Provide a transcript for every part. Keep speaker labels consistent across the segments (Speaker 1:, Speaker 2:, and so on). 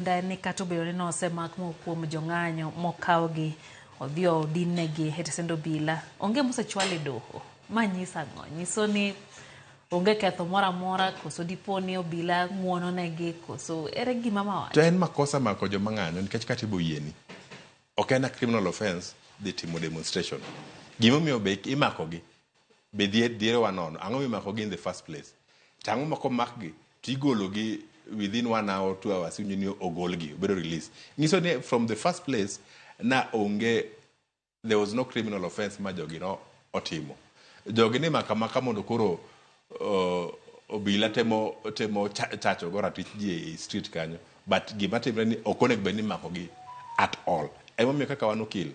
Speaker 1: Lendo en ni kata obedo ni nosemak moko kuom jong'anyo mokawgi odhi odin negi e tesend obila, onge mosechwal e doho. Ma nyiso ang'o? Nyiso ni onge ketho moro amora koso dipo ni obila ng'wono negi koso ere gima ma wacho? To en makosa mako
Speaker 2: joma ng'anyo nikech kata ibo yieni. Ok en a criminal offence dhi timo demonstration. Gimomiyo be imakogi be dhier dhier wa nono ang'o mimako gi in the first place to ang'o ma komak gi to igolo gi within one hour two hours iwinjo ni ogol gi obedo release nyiso ni from the first place na onge there was no criminal offense ma jogi no otimo jogi ni maka maka mondo koro uh, obila temo temo cha- chacho go ratich ji e street kanyo but gima timre ni ok onego bed ni imako gi at all emomiyo kaka wan okil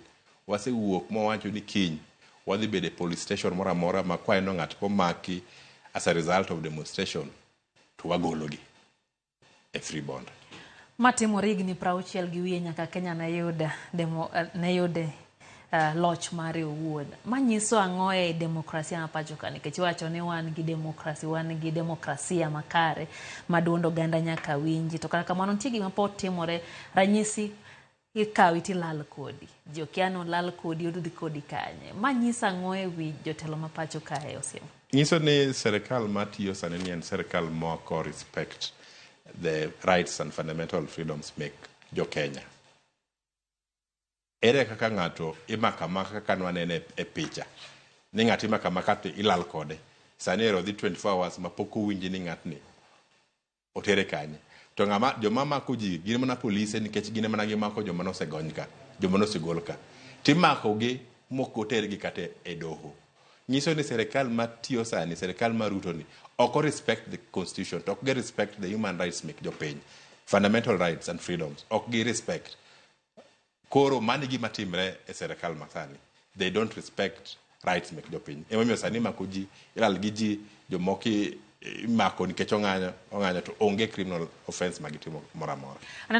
Speaker 2: Wasewuok mwawacho ni kiny wadhi bedo e police station moro amora ma kwaineno ng'at komaki as a result of demonstration to wagologi e free bond. Ma timore
Speaker 1: higni prauchiel gi wiye nyaka Kenya ne yud demo, ne yud uh, loch mare owuon. Ma nyiso ang'o e demokrasia ma pacho ka nikech iwacho ni wan gi demokrasi, wan gi demokrasia makare ma duond oganda nyaka winji. To kata kamano nitie gima pod timore ranyisi Ikawi tilal kodi. Ji okia ni olal kodi odudhi kodi kanye. Ma nyiso ang'o e wi jotelo ma pacho kae Osim? Nyiso ni
Speaker 2: serikal ma tiyo sani ni en serikal moko respect the rights and fundamental freedoms mek jo Kenya. Ere kaka ng'ato imako amaka kaka nwanene e picha. Ni ng'ato imako amaka to ilal kode. Sani ero odhi 24 hours ma pok owinji ni ng'atni Otere kanye? To ng'ama joma mako ji gin mana polise nikech gin emana gimako joma nosegony ka, joma nosegol ka. Timako gi mok oter gi kata e doho. Nyiso ni serikal ma tiyo sani, serikal ma Ruto ni, ok o respect the constitution, to ok gi respect the human rights mek jopiny. Fundamental rights and freedoms, ok gi respect. Koro mano e gima timre e serikal masani. They don't respect rights mek jopiny. Emomiyo sani imako ji, ilal gi ji, jomoko i- imako nikech ong'anyo, ong'anyo to onge criminal offense ma gitimo moro amora. Aneno